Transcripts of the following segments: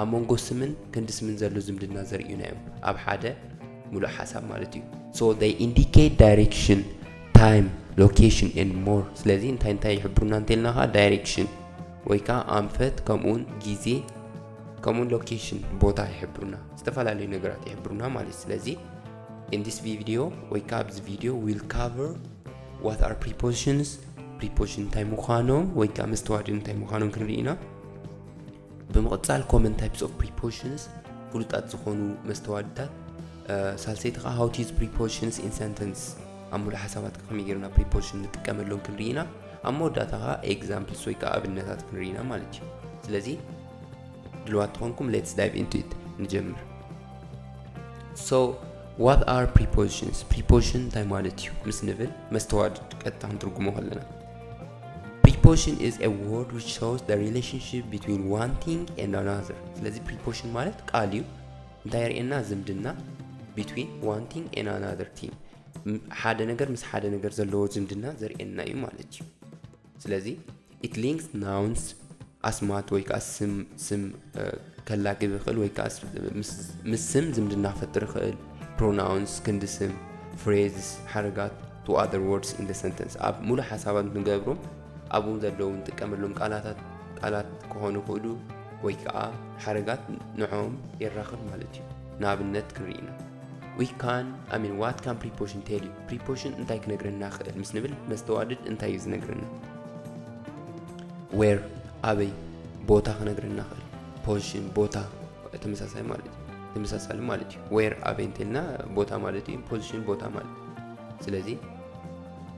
ኣብ መንጎ ስምን ክንዲ ስምን ዘሎ ዝምድና ዘርእዩና እዮም ኣብ ሓደ ሙሉእ ሓሳብ ማለት እዩ so they indicate direction time location and more ስለዚ እንታይ እንታይ ይሕብሩና እንተልና ከዓ direction ወይ ከዓ ኣንፈት ከምኡውን ግዜ ከምኡውን ሎኬሽን ቦታ ይሕብሩና ዝተፈላለዩ ነገራት ይሕብሩና ማለት ስለዚ in this video ወይ ከዓ ኣብዚ ቪዲዮ will cover what are prepositions preposition እንታይ ምዃኖም ወይ ከዓ መስተዋድድ እንታይ ምዃኖም ክንርኢ ኢና ብምቕጻል ኮመን ታይፕስ ኦፍ ፕሪፖዚሽንስ ፍሉጣት ዝኾኑ መስተዋድታት ሳልሰይቲ ከዓ ሃው ቱ ዩዝ ፕሪፖዚሽንስ ኢን ሰንተንስ ኣብ ሙሉእ ሓሳባት ከመይ ጌርና ፕሪፖዚሽን ንጥቀመሎም ክንርኢ ኢና ኣብ መወዳእታ ከዓ ኤግዛምፕልስ ወይ ከዓ ኣብነታት ክንርኢ ኢና ማለት እዩ ስለዚ ድልዋት ተኾንኩም ሌትስ ዳይቭ ኢንቱ ኢት ንጀምር ሶ ዋት ኣር ፕሪፖዚሽንስ ፕሪፖዚሽን እንታይ ማለት እዩ ምስ ንብል መስተዋድድ ቀጥታ ክንትርጉሞ ከለና ፕሪፖሽን ኢዝ ኤ ወርድ ዊች ሾውስ ዘ ሪሌሽንሽፕ ቢትዊን ዋን ቲንግ ኤንድ ኣናዘር ስለዚ ፕሪፖሽን ማለት ቃል እዩ እንታይ ርእና ዝምድና ቢትዊን ዋን ቲንግ ኤንድ ኣናዘር ቲንግ ሓደ ነገር ምስ ሓደ ነገር ዘለዎ ዝምድና ዘርእየና እዩ ማለት እዩ ስለዚ ኢት ሊንክስ ናውንስ ኣስማት ወይ ከኣ ስም ስም ከላግብ ይኽእል ወይ ከኣ ምስ ስም ዝምድና ክፈጥር ይኽእል ፕሮናውንስ ክንዲ ስም ፍሬዝስ ሓረጋት ቱ ኣር ወርድስ ኢን ሰንተንስ ኣብ ሙሉእ ሓሳባት ንገብሮም ኣብኡ ዘለዉ ንጥቀመሎም ቃላታት ቃላት ክኾኑ ይኽእሉ ወይ ከዓ ሓረጋት ንዕኦም የራኽብ ማለት እዩ ንኣብነት ክንርኢና ዊ ካን ኣሚን ዋት ካን ፕሪፖሽን ቴል ዩ ፕሪፖሽን እንታይ ክነግረና ክእል ምስ ንብል መስተዋድድ እንታይ እዩ ዝነግረና ዌር ኣበይ ቦታ ክነግረና ክእል ፖዚሽን ቦታ ተመሳሳይ ማለት እዩ ተመሳሳሊ ማለት እዩ ዌር ኣበይ እንተልና ቦታ ማለት እዩ ፖዚሽን ቦታ ማለት ስለዚ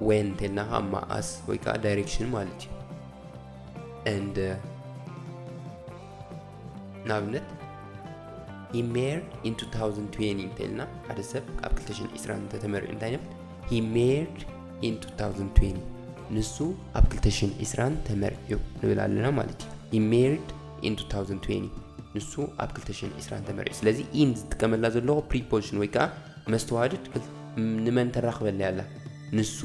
ዌን እንተልና ከዓ መዓስ ወይ ከዓ ዳይሬክሽን ማለት እዩ and uh, ንኣብነት ሂ ሜር ኢን 2020 እንተኢልና ሓደ ሰብ ኣብ 220 እንተተመሪዑ እንታይ ንብል ሂ ሜርድ ኢን 2020 ንሱ ኣብ 220 ተመሪዑ ንብል ኣለና ማለት እዩ ሂ ሜርድ ኢን 2020 ንሱ ኣብ 220 ተመሪዑ ስለዚ ኢን ዝጥቀመላ ዘለዎ ፕሪፖዚሽን ወይ ከዓ መስተዋድድ ንመን ተራኽበለ ኣላ ንሱ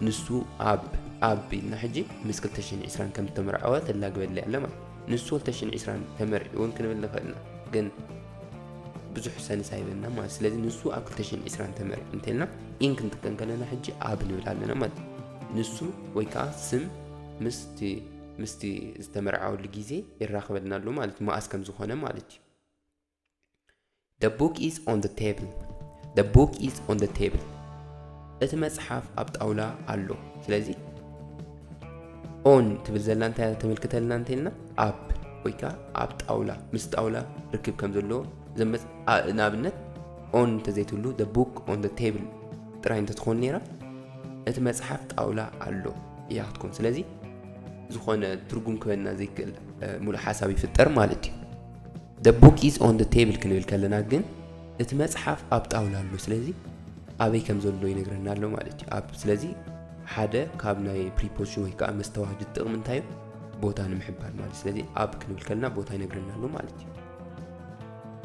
ንሱ ኣብ ኣብ ኢልና ሕጂ ምስ 220 ከም ዝተመርዐወ ተላግበለ ኣለ ማለት ንሱ ወልተሽን ዒስራን ተመርዒ እውን ክንብል ንኽእል ኢና ግን ብዙሕ ሰንስ ኣይበና ማለት ስለዚ ንሱ ኣብ 220 ተመርዒ እንተልና ኢን ክንጥቀም ከለና ሕጂ ኣብ ንብል ኣለና ማለት ንሱ ወይ ከዓ ስም ምስቲ ምስቲ ዝተመርዓወሉ ግዜ ይራኸበልና ኣሎ ማለት መኣስ ከም ዝኾነ ማለት እዩ The book is on the table. The book is on the table. እቲ መጽሓፍ ኣብ ጣውላ ኣሎ ስለዚ ኦን ትብል ዘላ እንታይ ተመልክተልና እንተልና ኣብ ወይ ከዓ ኣብ ጣውላ ምስ ጣውላ ርክብ ከም ዘለዎ ዘመፅ ንኣብነት ኦን እንተዘይትብሉ ደ ቡክ ኦን ደ ቴብል ጥራይ እንተትኾን ነይራ እቲ መፅሓፍ ጣውላ ኣሎ እያ ክትኮን ስለዚ ዝኾነ ትርጉም ክበና ዘይክእል ሙሉእ ሓሳብ ይፍጠር ማለት እዩ The book is on the table ክንብል ከለና ግን እቲ መጽሓፍ ኣብ ጣውላ ኣሎ ስለዚ ኣበይ ከም ዘሎ ይነግረና ኣሎ ማለት እዩ ኣብ ስለዚ ሓደ ካብ ናይ ፕሪፖዚሽን ወይ ከዓ መስተዋህዲ ጥቕሚ እንታይ እዩ ቦታ ንምሕባር ማለት ስለዚ ኣብ ክንብል ከለና ቦታ ይነግረና ኣሎ ማለት እዩ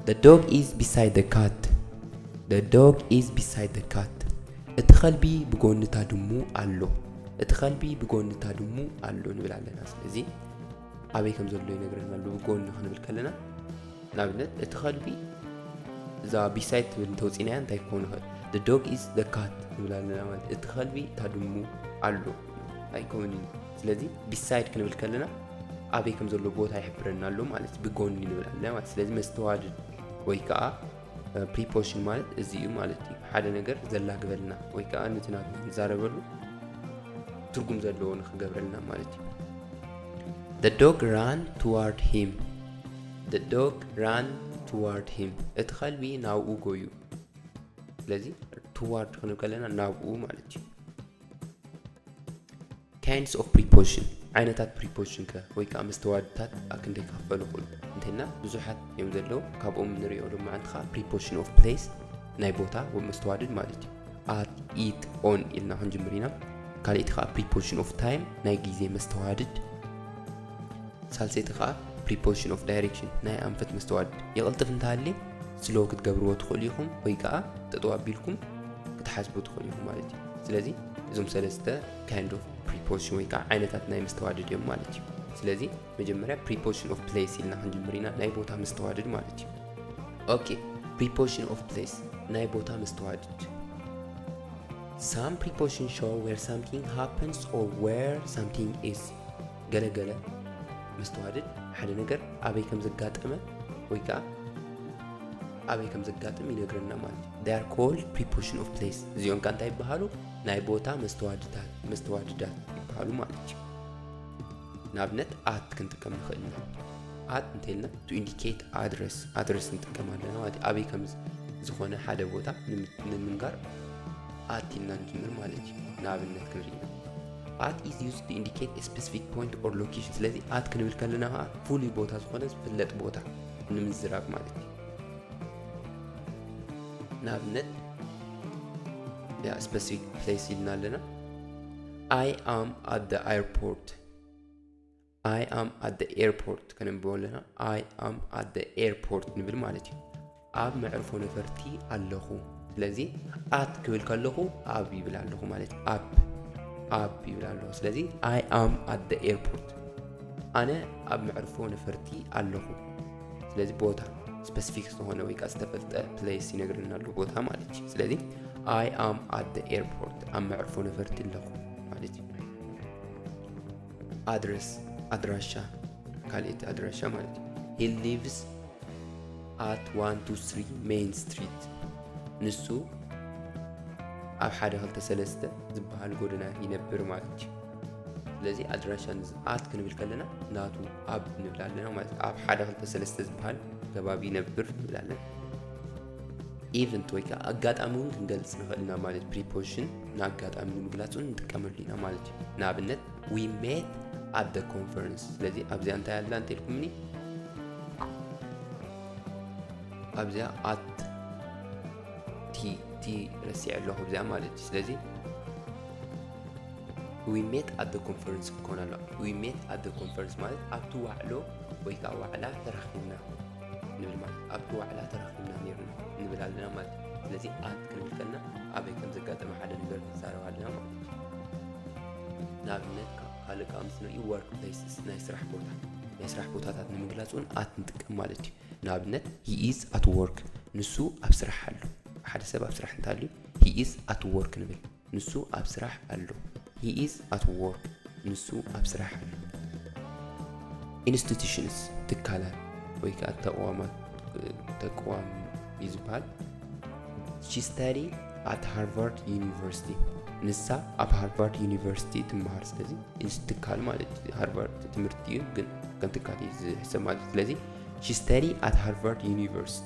The dog is beside the cat The dog is beside the cat እቲ ከልቢ ብጎንታ ድሙ ኣሎ እቲ ከልቢ ብጎንታ ድሙ ኣሎ ንብል ኣለና ስለዚ ኣበይ ከም ዘሎ ይነግረና ኣሎ ጎኒ ክንብል ከለና ንኣብነት እቲ ከልቢ እዛ ቢሳይት ትብል እንተውፂናያ እንታይ ክኾን ይኽእል the dog is the cat ንብል ኣለና ማለት እቲ ከልቢ እታ ድሙ ኣሎ ኣይኮን እዩ ስለዚ ቢሳይድ ክንብል ከለና ኣበይ ከም ዘሎ ቦታ ይሕብረና ኣሎ ማለት ብጎኒ ንብል ኣለና ማለት ስለዚ መስተዋድድ ወይ ከዓ ፕሪፖሽን ማለት እዚ እዩ ማለት እዩ ሓደ ነገር ዘላግበልና ወይ ከዓ ነቲ ናትና ንዛረበሉ ትርጉም ዘለዎ ንክገብረልና ማለት እዩ The dog ran toward him The dog ran toward him እቲ ከልቢ ናብኡ ጎዩ ስለዚ ትዋርድ ክንብ ከለና ናብኡ ማለት እዩ ካይንድስ ኦፍ ፕሪፖዚሽን ዓይነታት ፕሪፖዚሽን ከ ወይ ከዓ መስተዋድታት ኣክንደይ ክኽፈሉ ይኽእሉ እንተና ብዙሓት እዮም ዘለዉ ካብኦም ንሪኦ ድማ ዓንቲ ከዓ ፕሪፖዚሽን ኦፍ ፕሌስ ናይ ቦታ መስተዋድድ ማለት እዩ ኣት ኢት ኦን ኢልና ክንጅምር ኢና ካልእቲ ከዓ ፕሪፖዚሽን ኦፍ ታይም ናይ ግዜ መስተዋድድ ሳልሰይቲ ከዓ ፕሪፖዚሽን ኦፍ ዳይሬክሽን ናይ ኣንፈት መስተዋድድ ይቕልጥፍ እንተሃልየ ስሎ ክትገብርዎ ትኽእሉ ኢኹም ወይ ከዓ ጠጠው ኣቢልኩም ክትሓስቡ ትኽእሉ ኢኹም ማለት እዩ ስለዚ እዞም ሰለስተ ካይንድ ኦፍ ፕሪፖዚሽን ወይ ከዓ ዓይነታት ናይ መስተዋድድ እዮም ማለት እዩ ስለዚ መጀመርያ ፕሪፖዚሽን ኦፍ ፕሌስ ኢልና ክንጅምር ኢና ናይ ቦታ መስተዋድድ ማለት እዩ ኦኬ ፕሪፖዚሽን ኦፍ ፕሌስ ናይ ቦታ መስተዋድድ ሳም ፕሪፖዚሽን ሾው ዌር ሳምቲንግ ሃፕንስ ኦር ዌር ሳምቲንግ ኢዝ ገለ ገለ መስተዋድድ ሓደ ነገር ኣበይ ከም ዘጋጠመ ወይ ከዓ ኣበይ ከም ዘጋጥም ይነግረና ማለት እዩ ዳር ኮልድ ፕሪፖሽን ኦፍ ፕሌስ እዚኦም ከ እንታይ ይበሃሉ ናይ ቦታ መስተዋድታት መስተዋድዳት ይበሃሉ ማለት እዩ ንኣብነት ኣት ክንጥቀም ንኽእል ኢና ኣት እንተልና ቱ ኢንዲኬት ኣድረስ ኣድረስ ንጥቀም ኣለና ማለት እዩ ኣበይ ከም ዝኾነ ሓደ ቦታ ንምንጋር ኣት ኢልና ንጅምር ማለት እዩ ንኣብነት ክንርኢ ኢና ኣት ኢዝ ዩዝድ ቱ ኢንዲኬት ኤ ስፐሲፊክ ፖይንት ኦር ሎኬሽን ስለዚ ኣት ክንብል ከለና ከዓ ፍሉይ ቦታ ዝኾነ ዝፍለጥ ቦታ ንምዝራብ ማለት እዩ ንኣብነት ያ ስፐሲፊክ ፕሌስ ኢልና ኣለና ኣይ ኣም ኣት ደ ኣይርፖርት ኣይ ኣም ኣት ኤርፖርት ከነንብቦ ኣለና ኣይ ኣም ኣት ኤርፖርት ንብል ማለት እዩ ኣብ መዕርፎ ነፈርቲ ኣለኹ ስለዚ ኣት ክብል ከለኹ ኣብ ይብል ኣለኹ ማለት እዩ ኣብ ኣብ ይብል ኣለኹ ስለዚ ኣይ ኣም ኣት ኤርፖርት ኣነ ኣብ መዕርፎ ነፈርቲ ኣለኹ ስለዚ ቦታ ስፐሲፊክ ዝኾነ ወይ ከዓ ዝተፈልጠ ፕሌስ ይነግረና ኣሎ ቦታ ማለት እዩ ስለዚ ኣይ ኣም ኣት ኤርፖርት ኣብ መዕርፎ ነፈርቲ ኣለኹ ማለት እዩ ኣድረስ ኣድራሻ ካልእቲ ኣድራሻ ማለት እዩ ሂ ሊቭስ ኣት ዋን ቱ ስሪ ሜይን ስትሪት ንሱ ኣብ ሓደ ክልተ ሰለስተ ዝበሃል ጎደና ይነብር ማለት እዩ ስለዚ ኣድራሻ ኣት ክንብል ከለና ናቱ ኣብ ንብል ኣለና ማለት ኣብ ሓደ ክልተ ሰለስተ ዝበሃል ከባቢ ይነብር ንብል ኣለና ኢቨንት ወይ ከዓ ኣጋጣሚ እውን ክንገልፅ ንኽእል ኢና ማለት ፕሪፖዚሽን ንኣጋጣሚ ንምግላፅ እውን ንጥቀመሉ ኢና ማለት እዩ ንኣብነት ዊ ሜት ኣብ ደ ኮንፈረንስ ስለዚ ኣብዚኣ እንታይ ኣላ እንተልኩምኒ ኣብዚኣ ኣት ቲ ቲ ረሲዐ ኣለኹ ኣብዚኣ ማለት እዩ ስለዚ ዊ ሜት ኣብ ደ ኮንፈረንስ ክኾን ኣሎ ዊ ሜት ኣብ ደ ኮንፈረንስ ማለት ኣብቲ ዋዕሎ ወይ ከዓ ዋዕላ ተራኺብና ንብል ማለት ኣብቲ ዋዕላ ተረኺብና ነይርና ንብል ኣለና ማለት እዩ ስለዚ ኣት ክንብል ከለና ኣበይ ከም ዘጋጠመ ሓደ ነገር ክንዛረብ ኣለና ማለት እዩ ንኣብነት ካልእ ከዓ ምስ ንርኢ ወርክ ፕሌስስ ናይ ስራሕ ቦታ ናይ ስራሕ ቦታታት ንምግላፅ እውን ኣት ንጥቀም ማለት እዩ ንኣብነት ሂኢዝ ኣት ወርክ ንሱ ኣብ ስራሕ ኣሎ ሓደ ሰብ ኣብ ስራሕ እንተሃልዩ ሂኢዝ ኣት ወርክ ንብል ንሱ ኣብ ስራሕ ኣሎ። He is at work. ንሱ ኣብ ስራሕ ኣሎ። Institutions ትካላት ወይ ከዓ ተቕዋማት ተቅዋም እዩ ዝበሃል። She study at Harvard University. ንሳ ኣብ ሃርቫርድ ዩኒቨርሲቲ ትመሃር። ስለዚ ትካል ማለት ሃርቫርድ ትምህርቲ እዩ፣ ግን ከም ትካል እዩ ዝሕሰብ ማለት እዩ። ስለዚ ሺ ስተዲ ኣት ሃርቫርድ ዩኒቨርሲቲ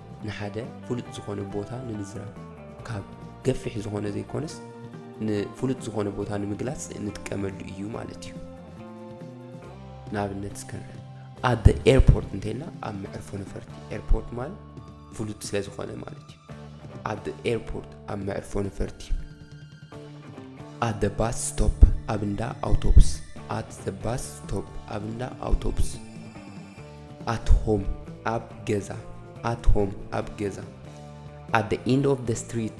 ንሓደ ፍሉጥ ዝኾነ ቦታ ንምዝራብ ካብ ገፊሕ ዝኾነ ዘይኮነስ ንፍሉጥ ዝኾነ ቦታ ንምግላጽ እንጥቀመሉ እዩ ማለት እዩ ንኣብነት እስከንረ ኣብ ኤርፖርት እንተይልና ኣብ መዕርፎ ነፈርቲ ኤርፖርት ማለት ፍሉጥ ስለ ዝኾነ ማለት እዩ ኣብ ኤርፖርት ኣብ መዕርፎ ነፈርቲ ኣት ባስ ስቶፕ ኣብ እንዳ ኣውቶቡስ ኣት ባስ ስቶፕ ኣብ እንዳ ኣውቶቡስ ኣት ሆም ኣብ ገዛ ኣት ሆም ኣብ ገዛ ኣት ዘ ኢንድ ኦፍ ዘ ስትሪት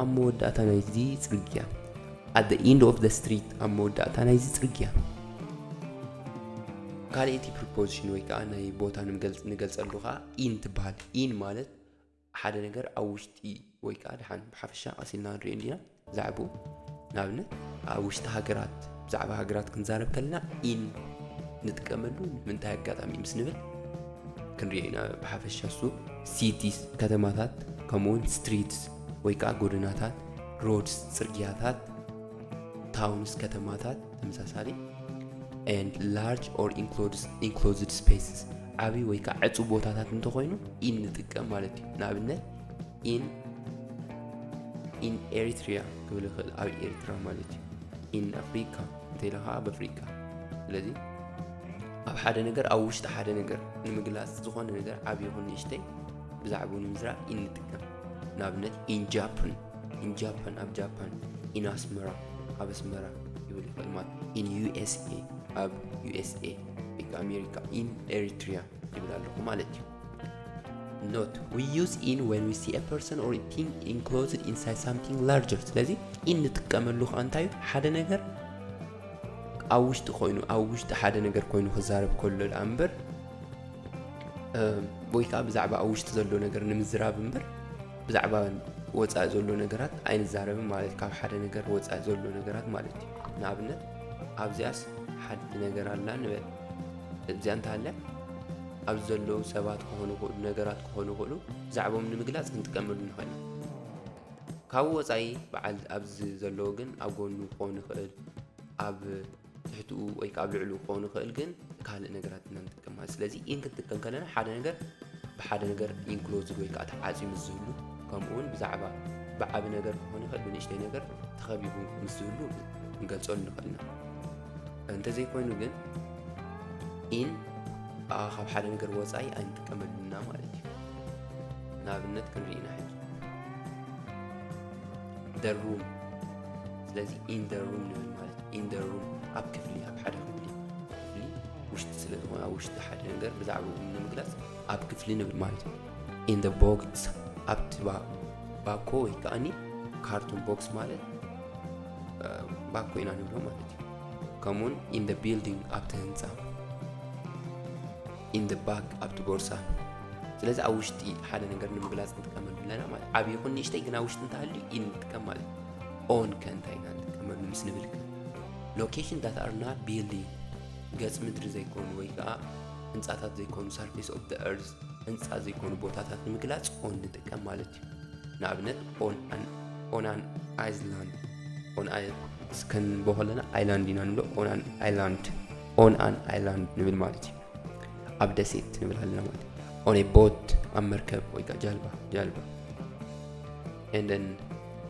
ኣብ መወዳእታ ናይዚ ጽርግያ ኣት ዘ ኢንድ ኦፍ ዘ ስትሪት ኣብ መወዳእታ ናይዚ ጽርግያ ካልእቲ ፕሪፖዚሽን ወይ ከዓ ናይ ቦታ ንገልጸሉ ከዓ ኢን ትበሃል ኢን ማለት ሓደ ነገር ኣብ ውሽጢ ወይ ከዓ ድሓን ብሓፈሻ ቀሲልና ንሪኦ እንዲና ዛዕቡ ንኣብነት ኣብ ውሽጢ ሃገራት ብዛዕባ ሃገራት ክንዛረብ ከለና ኢን ንጥቀመሉ ንምንታይ ኣጋጣሚ ምስ ንብል ክንሪኦ ኢና ብሓፈሻ እሱ ሲቲስ ከተማታት ከምኡውን ስትሪትስ ወይ ከዓ ጎደናታት ሮድስ ጽርግያታት ታውንስ ከተማታት ተመሳሳሊ and large or includes enclosed spaces ዓብዪ ወይ ከዓ ዕፁብ ቦታታት እንተኾይኑ ኢን ንጥቀም ማለት እዩ ንኣብነት ኢን ኢን ኤሪትሪያ ክብል ይኽእል ኣብ ኤርትራ ማለት እዩ ኢን ኣፍሪካ እንተኢለ ከዓ ኣብ ኣፍሪካ ስለዚ ኣብ ሓደ ነገር ኣብ ውሽጢ ሓደ ነገር ንምግላፅ ዝኾነ ነገር ዓብዪ ይኹን ንእሽተይ ብዛዕባኡ ንምዝራእ ኢን ንጥቀም ንኣብነት ኢን ጃፕን ኢን ጃፓን ኣብ ጃፓን ኢን ኣስመራ ኣብ ኣስመራ ይብል ይኽእል ማለት ኢን ዩኤስኤ ኣብ ዩኤስኤ ወይ ከዓ ኣሜሪካ ኢን ኤሪትሪያ ይብል ኣለኹ ማለት እዩ ኖት ዊ ዩዝ ኢን ወን ዊ ሲ ፐርሰን ኦር ቲንግ ኢንክሎዝድ ኢንሳይድ ሳምቲንግ ላርጀር ስለዚ ኢን ንጥቀመሉ ከዓ እንታይ እዩ ሓደ ነገር ኣብ ውሽጢ ኮይኑ ኣብ ውሽጢ ሓደ ነገር ኮይኑ ክዛረብ ከሎ ደኣ እምበር ወይ ከዓ ብዛዕባ ኣብ ውሽጢ ዘሎ ነገር ንምዝራብ እምበር ብዛዕባ ወፃኢ ዘሎ ነገራት ኣይንዛረብን ማለት ካብ ሓደ ነገር ወፃኢ ዘሎ ነገራት ማለት እዩ ንኣብነት ኣብዚኣስ ሓንቲ ነገር ኣላ ንበል እዚኣ እንተሃልያ ኣብዚ ዘለዉ ሰባት ክኾኑ ይኽእሉ ነገራት ክኾኑ ይኽእሉ ብዛዕባኦም ንምግላፅ ክንጥቀመሉ ንኽእል ካብኡ ወፃኢ በዓል ኣብዚ ዘለዎ ግን ኣብ ጎኑ ክኾን ይኽእል ኣብ ትሕትኡ ወይ ከዓ ኣብ ልዕሉ ክኸውን ይኽእል ግን ካልእ ነገራት ኢና ንጥቀም ማለት ስለዚ ኢን ክንጥቀም ከለና ሓደ ነገር ብሓደ ነገር ኢንክሎዝድ ወይ ከዓ ተዓፅዩ ምስ ዝህሉ ከምኡ እውን ብዛዕባ ብዓቢ ነገር ክኾን ይኽእል ብንእሽተይ ነገር ተኸቢቡ ምስ ዝህሉ ክንገልፀሉ ንኽእል ኢና እንተዘይኮይኑ ግን ኢን ካብ ሓደ ነገር ወፃኢ ኣይንጥቀመሉና ማለት እዩ ንኣብነት ክንርኢ ኢና ሕጂ the room ስለዚ in the room ንብል ማለት in the room ኣብ ክፍሊ ኣብ ሓደ ክፍሊ ክፍሊ ውሽጢ ስለ ዝኾነ ኣብ ውሽጢ ሓደ ነገር ብዛዕባኡ ንምግላጽ ኣብ ክፍሊ ንብል ማለት እዩ in the box ኣብቲ ባኮ ወይ ከዓኒ ካርቱን ቦክስ ማለት ባኮ ኢና ንብሎ ማለት እዩ ከምኡውን in the building ኣብቲ ህንፃ ኢን ዘ ባግ ኣብቲ ቦርሳ ስለዚ ኣብ ውሽጢ ሓደ ነገር ንምግላፅ ንጥቀመሉ ኣለና ማለት ዓብ ይኹን ንእሽተይ ግን ኣብ ውሽጢ እንተሃልዩ ኢ ንጥቀም ማለት ኦን ከ እንታይ ኢና ንጥቀመሉ ምስ ንብል ከ ሎኬሽን ዳት ኣር ናት ቢልዲንግ ገፅ ምድሪ ዘይኮኑ ወይ ከዓ ህንፃታት ዘይኮኑ ሳርፌስ ኦፍ ደ ኤርዝ ህንፃ ዘይኮኑ ቦታታት ንምግላፅ ኦን ንጥቀም ማለት እዩ ንኣብነት ኦን ኣን ኣይስላንድ ኦን ኣይ እስከንቦ ከለና ኣይላንድ ኢና ንብሎ ኦን ኣን ኣይላንድ ኦን ኣን ኣይላንድ ንብል ማለት እዩ ኣብ ደሴት ንብል ኣለና ማለት ኦን ኤ ቦት ኣብ መርከብ ወይ ከዓ ጃልባ ጃልባ ኤንደን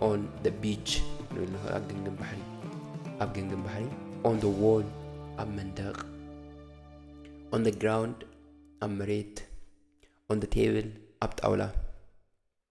ኦን ደ ቢች ንብል ንኽእል ኣብ ግንግን ባሕሪ ኣብ ግንግን ባሕሪ ኦን ደ ዎል ኣብ መንደቕ ኦን ደ ግራውንድ ኣብ መሬት ኦን ደ ቴብል ኣብ ጣውላ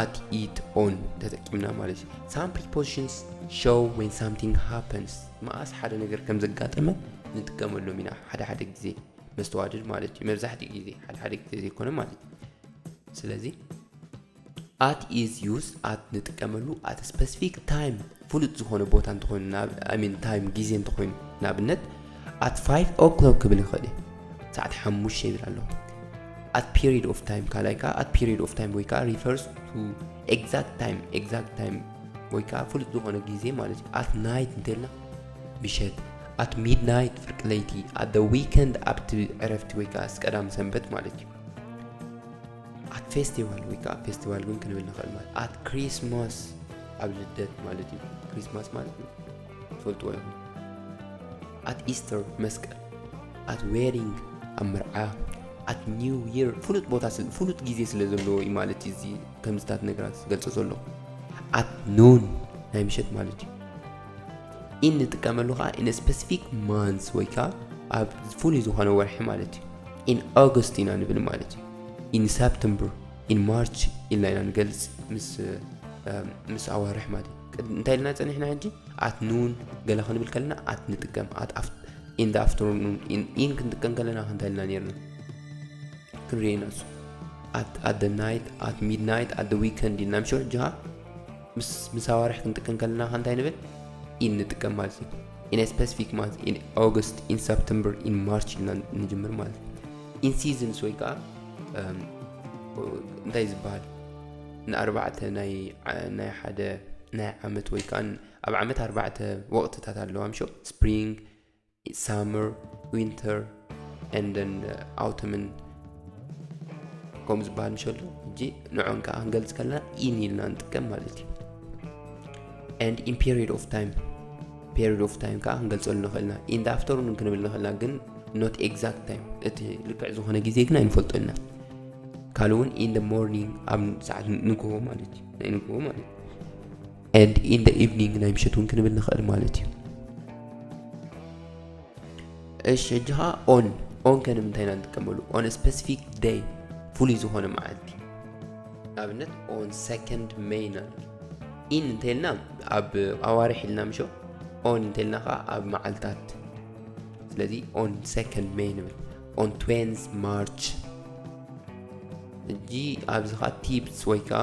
at it on ተጠቂምና ማለት እዩ ሳም ፕሪፖዚሽንስ ሾው ወን ሳምቲንግ ሃፐንስ መኣስ ሓደ ነገር ከም ዘጋጠመ ንጥቀመሎም ኢና ሓደ ሓደ ግዜ መስተዋድድ ማለት እዩ መብዛሕትኡ ግዜ ሓደ ሓደ ግዜ ዘይኮነ ማለት እዩ ስለዚ ኣት ኢዝ ዩዝ ኣት ንጥቀመሉ ኣት ስፐሲፊክ ታይም ፍሉጥ ዝኾነ ቦታ እንተኾይኑ ናብ ኣይ ሚን ታይም ግዜ እንተኾይኑ ንኣብነት ኣት ፋይቭ ኦክሎክ ክብል ይኽእል እየ ሰዓት ሓሙሽተ ይብል ኣለኹ ኣት ፔሪድ ኦፍ ታይም ካልኣይ ከዓ ኣት ፔሪድ ኦፍ ታይም ወይ ከዓ ሪፈርስ ቱ ኤግዛክት ታይም ኤግዛክት ታይም ወይ ከዓ ፍሉጥ ዝኾነ ግዜ ማለት እዩ ኣት ናይት እንተልና ምሸት ኣት ሚድናይት ፍርቂ ለይቲ ኣት ዊከንድ ኣብቲ ዕረፍቲ ወይ ከዓ ቀዳም ሰንበት ማለት እዩ ኣት ፌስቲቫል ወይ ከዓ ፌስቲቫል እውን ክንብል ንኽእል ማለት ኣት ክሪስማስ ኣብ ልደት ማለት እዩ ክሪስማስ ማለት እዩ ትፈልጥዎ ኢኹም ኣት ኢስተር መስቀል ኣት ዌዲንግ ኣብ መርዓ ኣት ኒው ይር ፍሉጥ ቦታ ፍሉጥ ግዜ ስለ ዘለዎ እዩ ማለት እዩ እዚ ከምዝታት ነገራት ዝገልፆ ዘሎ ኣት ኖን ናይ ምሸት ማለት እዩ ኢን ንጥቀመሉ ከዓ ኢን ስፐሲፊክ ማንስ ወይ ከዓ ኣብ ፍሉይ ዝኾነ ወርሒ ማለት እዩ ኢን ኦገስት ኢና ንብል ማለት እዩ ኢን ሰፕተምበር ኢን ማርች ኢልና ኢና ንገልፅ ምስ ምስ ኣዋርሕ ማለት እዩ እንታይ ኢልና ፀኒሕና ሕጂ ኣት ኑን ገለ ክንብል ከለና ኣት ንጥቀም ኣት ኢን ኣፍተርኑን ኢን ክንጥቀም ከለና ክንታይ ኢልና ነርና ክንሪኤና እሱ ኣት ኣት ናይት ኣት ሚድናይት ኣት ዊከንድ ኢልና ምሸ ጅሃ ምስ ምስ ኣዋርሕ ክንጥቀም ከለና ከ እንታይ ንብል ኢን ንጥቀም ማለት እዩ ኢን a specific month in August in September in March ኢልና ንጅምር ማለት እዩ in seasons ወይ ከዓ እንታይ ዝበሃል ንኣርባዕተ ናይ ናይ ሓደ ናይ ዓመት ወይ ከዓ ኣብ ዓመት ኣርባዕተ ወቕትታት ኣለዋ ምሾ ስፕሪንግ ሳመር ዊንተር ኤንደን ኣውተምን ከምኡ ዝበሃል ንሸሎ ሕጂ ንዖን ከዓ ክንገልፅ ከለና ኢን ኢልና ንጥቀም ማለት እዩ ኤንድ ኢን ፔሪድ ኦፍ ታይም ፔሪድ ኦፍ ታይም ከዓ ክንገልፀሉ ንኽእልና ኢን ደ ኣፍተርኑን ክንብል ንኽእልና ግን ኖት ኤግዛክት ታይም እቲ ልክዕ ዝኾነ ግዜ ግን ኣይንፈልጦ ኢና ካልእ እውን ኢን ደ ሞርኒንግ ኣብ ሰዓት ንግሆ ማለት እዩ ናይ ንግሆ ማለት እዩ and in the evening ናይ ምሸት እውን ክንብል ንኽእል ማለት እዩ እሺ ሕጂ ከዓ ኦን ኦን ከ ንምንታይ ኢና ንጥቀመሉ ኦን ስፔሲፊክ ደይ ፍሉይ ዝኾነ መዓልቲ ንኣብነት ኦን ሰከንድ መይ ኢና ኢን እንተልና ኣብ ኣዋርሕ ኢልና ምሾ ኦን እንተልና ከዓ ኣብ መዓልታት ስለዚ ኦን ሰከንድ መይ ንብል ኦን ትዌንዝ ማርች ሕጂ ኣብዚ ከዓ ቲፕስ ወይ ከዓ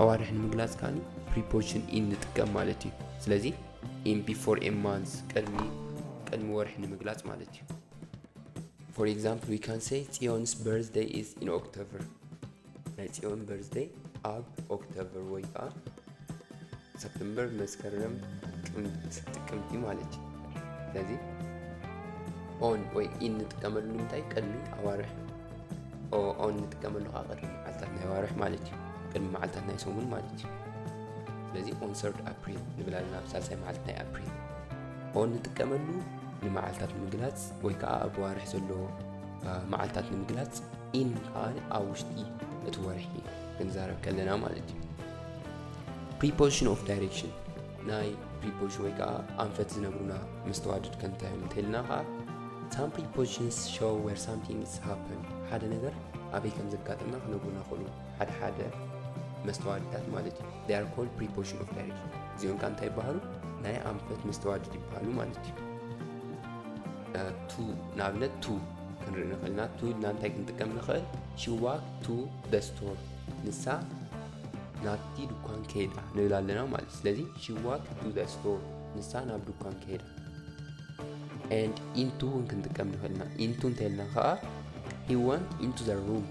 ኣዋርሕ ንምግላጽ ከኣ ፕሪፖዚሽን ኢን ንጥቀም ማለት እዩ ስለዚ ኢን ቢፎር ኤ ማንዝ ቅድሚ ቅድሚ ወርሒ ንምግላጽ ማለት እዩ ፎር ኤግዛምፕል ዊ ካን ሰይ ጽዮንስ በርዝደይ ኢዝ ኢን ኦክቶበር ናይ ጽዮን በርዝደይ ኣብ ኦክቶበር ወይ ከዓ ሰፕተምበር መስከረም ጥቅምቲ ጥቅምቲ ማለት እዩ ስለዚ ኦን ወይ ኢን ንጥቀመሉ ንምንታይ ቅድሚ ኣዋርሕ ኦን ንጥቀመሉ ከዓ ቅድሚ መዓልታት ናይ ዋርሕ ማለት እዩ ቅድሚ መዓልታት ናይ ሰሙን ማለት እዩ ስለዚ ኦን ሰርድ ኣፕሪል ንብል ኣለና ኣብ ሳልሳይ መዓልቲ ናይ ኣፕሪል ኦን ንጥቀመሉ ንመዓልታት ንምግላፅ ወይ ከዓ ኣብ ዋርሕ ዘሎ መዓልታት ንምግላፅ ኢን ከዓ ኣብ ውሽጢ እቲ ወርሒ ክንዛረብ ከለና ማለት እዩ ፕሪፖዚሽን ኦፍ ዳይሬክሽን ናይ ፕሪፖዚሽን ወይ ከዓ ኣንፈት ዝነግሩና መስተዋድድ ከምታይ እዮም እንተልና ከዓ ሳም ፕሪፖዚሽንስ ሾው ዌር ሳምቲንግስ ሃፕን ሓደ ነገር ኣበይ ከም ዘጋጠመ ክነግሩና ክእሉ ሓደ ሓደ መስተዋድታት ማለት እዩ ዳር ኮል ፕሪፖዚሽን ኦፍ ዳይሬክሽን እዚኦም ከዓ እንታይ ይበሃሉ ናይ ኣንፈት መስተዋድድ ይበሃሉ ማለት እዩ ቱ ንኣብነት ቱ ክንርኢ ንኽእልና ቱ ኢልና እንታይ ክንጥቀም ንኽእል ሽዋክ ቱ ደስቶር ንሳ ናብቲ ድኳን ከይዳ ንብል ኣለና ማለት ስለዚ ሺ ዋክ ቱ ዘ ስቶር ንሳ ናብ ድኳን ከይዳ ኤንድ ኢንቱ እውን ክንጥቀም ንኽእል ኢና ኢንቱ እንተልና ከዓ ሂ ወንት ኢንቱ ዘ ሩም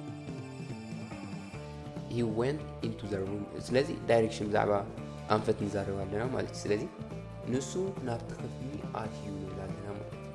ሂ ወንት ኢንቱ ዘ ሩም ስለዚ ዳይሬክሽን ብዛዕባ ኣንፈት ንዛረብ ኣለና ማለት እዩ ስለዚ ንሱ ናብቲ ክፍሊ ኣትዩ ንብል ኣለና ማለት እዩ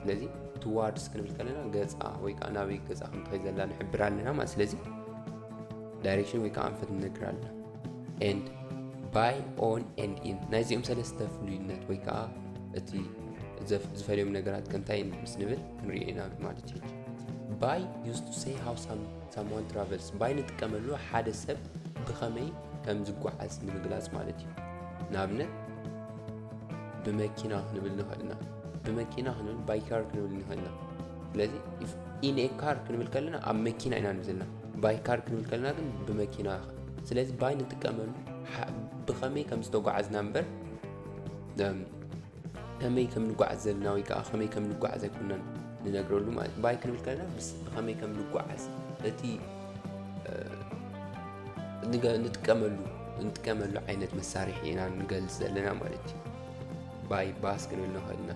ስለዚ ትዋርድስ ክንብል ከለና ገፃ ወይ ከዓ ናበይ ገፃ ክንትኸይ ዘላ ንሕብር ኣለና ማለት ስለዚ ዳይሬክሽን ወይ ከዓ ኣንፈት ንነግር ኣለና ኤንድ ባይ ኦን ኤንድ ኢን ናይዚኦም ሰለስተ ፍሉይነት ወይ ከዓ እቲ ዝፈልዮም ነገራት ከንታይ ምስ ንብል ክንሪኦ ኢና ማለት እዩ ባይ ዩስ ቱ ሰይ ሃው ሳምዋን ትራቨልስ ባይ ንጥቀመሉ ሓደ ሰብ ብኸመይ ከም ዝጓዓዝ ንምግላፅ ማለት እዩ ንኣብነት ብመኪና ክንብል ንኽእል ኢና ብመኪና ክንብል ባይ ካር ክንብል ንኽእል ኢና ስለዚ ኢን ኤ ካር ክንብል ከለና ኣብ መኪና ኢና ንብል ዘለና ባይ ካር ክንብል ከለና ግን ብመኪና ስለዚ ባይ ንጥቀመሉ ብኸመይ ከም ዝተጓዓዝና እምበር ከመይ ከም ንጓዓዝ ዘለና ወይ ከዓ ከመይ ከም ንጓዓዝ ኣይኮናን ንነግረሉ ማለት እዩ ባይ ክንብል ከለና ብኸመይ ከም ንጓዓዝ እቲ ንጥቀመሉ ንጥቀመሉ ዓይነት መሳርሒ ኢና ንገልፅ ዘለና ማለት እዩ ባይ ባስ ክንብል ንኽእል ኢና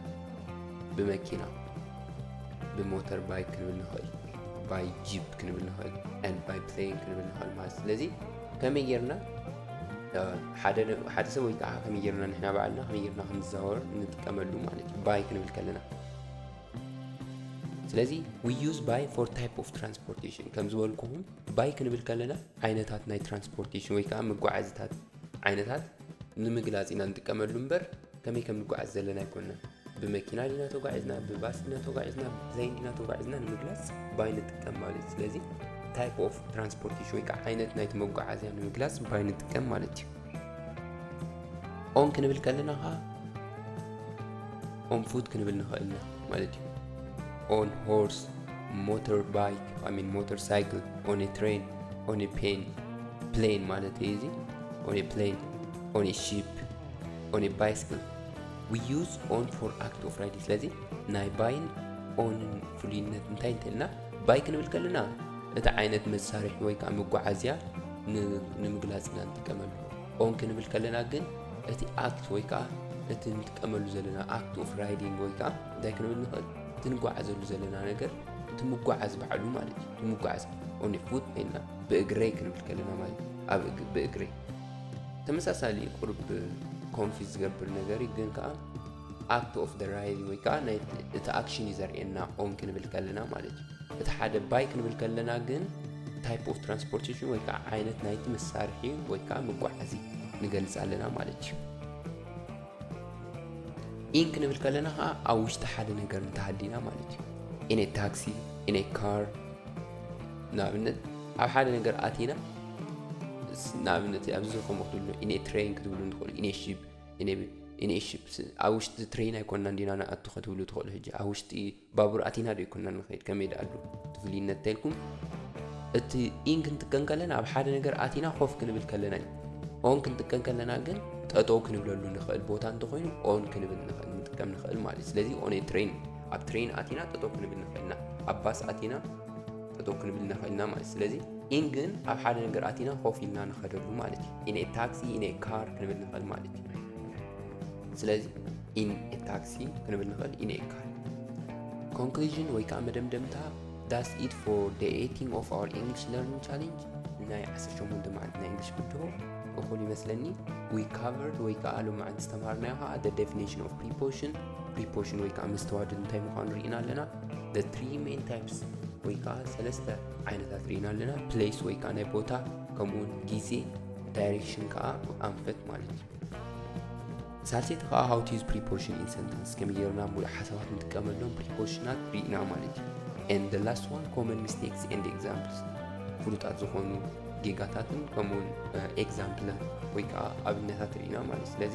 ብመኪና ብሞተር ባይክ ክንብል ንኽእል ባይ ጂፕ ክንብል ንኽእል ን ባይ ፕሌን ክንብል ንኽእል ማለት ስለዚ ከመይ ጌርና ሓደ ሰብ ወይ ከዓ ከመይ ጌርና ንሕና ባዕልና ከመይ ጌርና ክንዘዋወር ንጥቀመሉ ማለት እዩ ባይ ክንብል ከለና ስለዚ ዊ ዩዝ ባይ ፎር ታይፕ ኦፍ ትራንስፖርቴሽን ከም ዝበልኩኹም ባይ ክንብል ከለና ዓይነታት ናይ ትራንስፖርቴሽን ወይ ከዓ መጓዓዝታት ዓይነታት ንምግላጽ ኢና ንጥቀመሉ እምበር ከመይ ከም ንጓዓዝ ዘለና ኣይኮንና ብመኪና ዲና ተጓዒዝና ብባስ ዲና ተጓዒዝና ብፕላይን ዲና ተጓዒዝና ንምግላጽ ባይ ንጥቀም ማለት እዩ ስለዚ ታይፕ ኦፍ ትራንስፖርቴሽን ወይ ከዓ ዓይነት ናይቲ መጓዓዝያ ንምግላጽ ባይ ንጥቀም ማለት እዩ ኦን ክንብል ከለና ከዓ ኦን ፉት ክንብል ንኽእል ኢና ማለት እዩ ኦን ሆርስ ሞተር ባይክ ሚን ሞተር ሳይክል ኦን ትሬን ኦን ፔን ፕሌን ማለት እዩ እዚ ኦን ኤ ፕሌን ኦን ኤ ሺፕ ኦን ኤ ባይስክል ዊ ዩዝ ኦን ፎር ኣክት ኦፍ ራይድ ስለዚ ናይ ባይን ኦንን ፍሉይነት እንታይ እንተልና ባይ ክንብል ከለና እቲ ዓይነት መሳርሒ ወይ ከዓ መጓዓዝያ ንምግላፅ ኢና ንጥቀመሉ ኦን ክንብል ከለና ግን እቲ ኣክት ወይ ከዓ እቲ ንጥቀመሉ ዘለና ኣክት ኦፍ ራይዲንግ ወይ ከዓ እንታይ ክንብል ንኽእል እቲ ንጓዓዘሉ ዘለና ነገር እቲ ምጓዓዝ ባዕሉ ማለት እዩ እቲ ምጓዓዝ ኦን ፉት ኮይና ብእግረይ ክንብል ከለና ማለት ኣብ ብእግረይ ተመሳሳሊ ቁርብ ኮንፊዝ ዝገብር ነገር እዩ ግን ከዓ ኣክት ኦፍ ደ ራይል ወይ ከዓ ናይ እቲ ኣክሽን እዩ ዘርእየና ኦን ክንብል ከለና ማለት እዩ እቲ ሓደ ባይ ክንብል ከለና ግን ታይፕ ኦፍ ትራንስፖርቴሽን ወይ ከዓ ዓይነት ናይቲ መሳርሒ ወይ ከዓ መጓዓዚ ንገልፅ ኣለና ማለት እዩ ኢን ክንብል ከለና ከዓ ኣብ ውሽጢ ሓደ ነገር እንተሃሊና ማለት እዩ ኢነ ታክሲ ኢነ ካር ንኣብነት ኣብ ሓደ ነገር ኣቲና ንኣብነት ኣብዚ ዝኾም ክትብሉ ኢነ ትሬን ክትብሉ ትኽእሉ ኢነ ሽፕ ኢነ ሽፕ ኣብ ውሽጢ ትሬን ኣይኮና እንዲና ንኣቱ ክትብሉ ትኽእሉ ሕጂ ኣብ ውሽጢ ባቡር ኣቲና ዶ ይኮና ንኸይድ ከመይ ደኣሉ ትፍልይነት ተልኩም እቲ ኢን ክንጥቀን ከለና ኣብ ሓደ ነገር ኣቲና ኮፍ ክንብል ከለና እዩ ኦን ክንጥቀን ከለና ግን ጠጠው ክንብለሉ ንኽእል ቦታ እንተኮይኑ ኦን ክንብል ንጥቀም ንኽእል ማለት እዩ ስለዚ ኦን ትሬን ኣብ ትሬን ኣቲና ጠጠው ክንብል ንኽእል ኢና ኣብ ባስ ኣቲና ጠጠው ክንብል ንኽእል ኢና ማለት ስለዚ ኢን ግን ኣብ ሓደ ነገር ኣቲና ኮፍ ኢልና ንኸደሉ ማለት እዩ ኢን ታክሲ ኢን ካር ክንብል ንኽእል ማለት እዩ ስለዚ ኢን ታክሲ ክንብል ንኽእል ኢን ካር ኮንክሉዥን ወይ ከዓ መደምደምታ ዳስ ኢት ፎር ደ ኤቲንግ ኦፍ ኣር ኢንግሊሽ ለርኒንግ ቻሌንጅ ናይ 18 መዓልቲ ናይ እንግሊሽ ብድሆ እኹል ይመስለኒ ዊ ካቨርድ ወይ ከዓ ሎማዓንቲ ዝተምሃርናዮ ከዓ ደ ዴፊኒሽን ኦፍ ፕሪፖሽን ፕሪፖሽን ወይ ከዓ መስተዋድድ እንታይ ምዃኑ ርኢና ኣለና the three main types ወይ ከዓ ሰለስተ ዓይነታት ርኢና ኣለና ፕሌስ ወይ ከዓ ናይ ቦታ ከምኡውን ግዜ ዳይሬክሽን ከዓ ኣንፈት ማለት እዩ ሳልሰይቲ ከዓ ሃው ቲዝ ፕሪፖሽን ኢን ሰንተንስ ከመይ ጌርና ሙሉእ ሓሳባት ንጥቀመሎም ፕሪፖሽናት ርኢና ማለት እዩ and the last one common mistakes and examples ፍሉጣት ዝኾኑ ጌጋታትን ከምኡውን ኤግዛምፕላት ወይ ከዓ ኣብነታት ርኢና ማለት ስለዚ